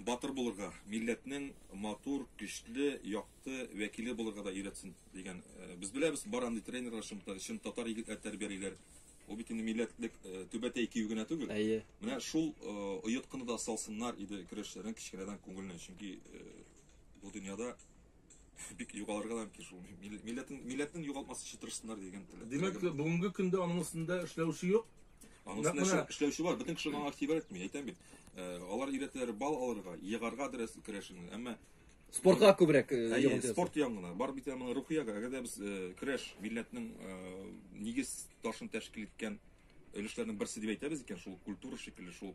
Батыр булырга, милләтнең матур, көчле, якты вәкиле булырга да өйрәтсен, дигән. Без беләбез, бар андый тренерлар, чын татар егетләр тәрбиялиләр. Ул бит инде милләтлек түбәтәй кию генә түгел. Әйе. Менә шул оеткыны да салсыннар иде көрәшчеләрнең кечкенәдән күңеленә, чөнки бу дөньяда бик югалырга да мөмкин шул. Милләтен милләтен югалтмас өчен тырышсыннар дигән теләк. Димәк, бүгенге көндә аның өстендә эшләүче юк. Аның өстендә эшләүче бар. Бөтен кеше аңа тибәр итми. Әйтәм бит. Э, алар өйрәтәләр бал алырга, егарга дөрес керәшен. Әмма спортка күбрәк э, йогынты. Спорт янгына. Бар бит моның рухиягә. Әгәр дә без э, керәш милләтнең нигез ташын тәшкил иткән өлешләрнең берсе дип әйтәбез икән, шул культура шикелле, шул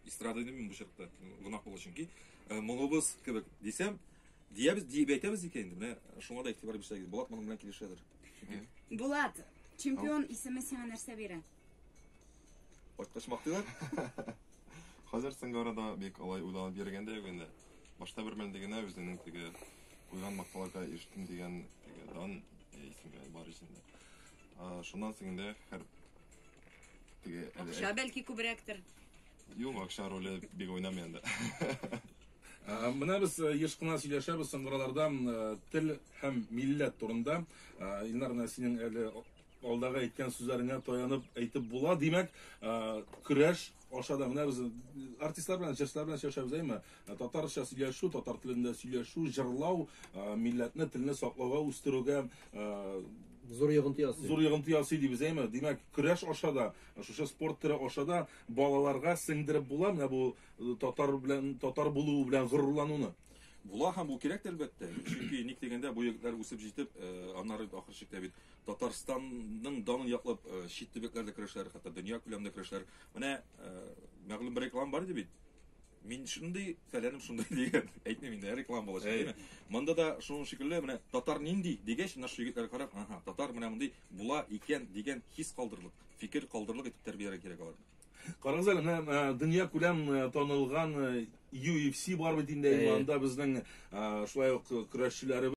эстрада димим бу чакта, гөнаһ булыр чөнки. Моңыбыз кебек дисәм, Диябез, диеп әйтәбез икән инде. Менә шуңа да игътибар бирсәгез, Булат моның белән килешәдер. Булат, чемпион исеме сиңа нәрсә бирә? Кайткач мактыйлар. Хәзер соңгы арада бик алай уйланып йөргән дә юк инде. Башта бер мәлдә генә үзенең теге куйган макталарга ирештем дигән теге дан э, исемгә бар исемдә. А, Шуннан соң инде хәр теге әле- Акча бәлки күбрәктер. Юк, акча роле бик уйнамый анда. Менә без э, еш кына сөйләшәбез соңгы араларда э, тел һәм милләт турында. Илнар, менә синең әле алдагы әйткән сүзләреңә таянып әйтеп була. Димәк, көрәш аша да менә без артистлар белән, җырчылар белән сөйләшәбез, әйме? Татарча сөйләшү, татар телендә сөйләшү, җырлау, милләтне, телне саклауга, үстерүгә зур йогынты ясый. Зур йогынты ясый дибез, әйме? Димәк, көрәш аша да, шушы спорт төре аша да балаларга сеңдереп була, менә бу татар белән татар булуы белән горурлануны була һәм бу кирәк әлбәттә чөнки ник дигәндә бу егетләр үсеп җитеп э, аннары ахыр чиктә бит татарстанның данын яклап э, чит төбәкләрдә көрәшләр хәтта дөнья күләмендә көрәшләр менә э, мәгълүм бер реклама бар иде бит мин шундый фәләнем шундый дигән әйтмим инде реклама булачак әйме монда да шуның шикелле менә татар нинди дигәч наш егетләр карап ага татар менә мондый була икән дигән хис калдырлык фикер калдырлык итеп тәрбияләргә кирәк аларны Карагыз әле, менә э, дөнья күләм э, танылган UFC э, бар бит инде, анда безнең шулай ук көрәшчеләребез